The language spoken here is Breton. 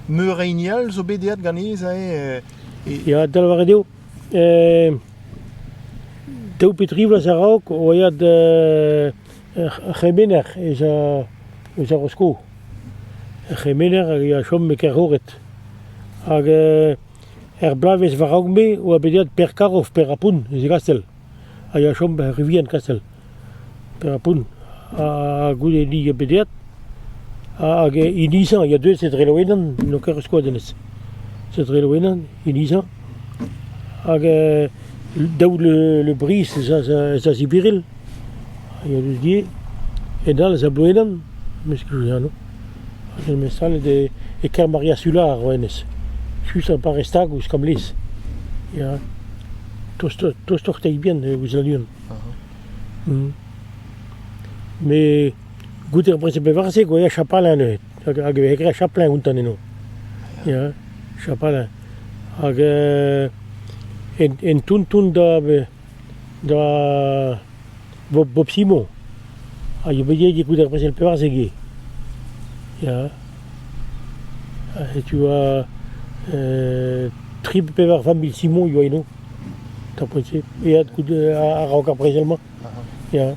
Meur a hini all zo bet aet ganez eo. Ya, da lavaret eo. daou pe tri vloaz a-raok o aet ar c'hemener eus ar Rosko. Ar c'hemener a ya chom e Kerhoret. Hag Er bloavezh war-raok-me e oa bet aet Per Karov, Per Apun, eus e gastell, a yoa chom er Rivien Kastell, Per Apun, ha goude ni a bet aet, hag hinizañ a ya deus e dreloennan, n'on ket ur skoazellet, se dreloennan, hinizañ, hag daout le, le brizh ez a, ez a ziviril. Hag eus gê, e-dal eus ar bouedan, mesk Juliano, hag eus mesanet e Kermaria Solar eo hennezh, just ar parrez tagoù skamlez, ya, tostoc'h tostoc'h teibien e Ouzaluon. Met goude ar brezel bevar-se e voe chapalin neuze, hag hag e veze graet chapelin outan eno, ya, chapalin. Hag en en toun-toun da be... Gra vo bo psimoù a yo bet get goût ar brezel pevarzek eo ya setu tri pe pevar vamm mil simon e oa eno tapoet-se aet goût a-raok ar brezel-mañ ya.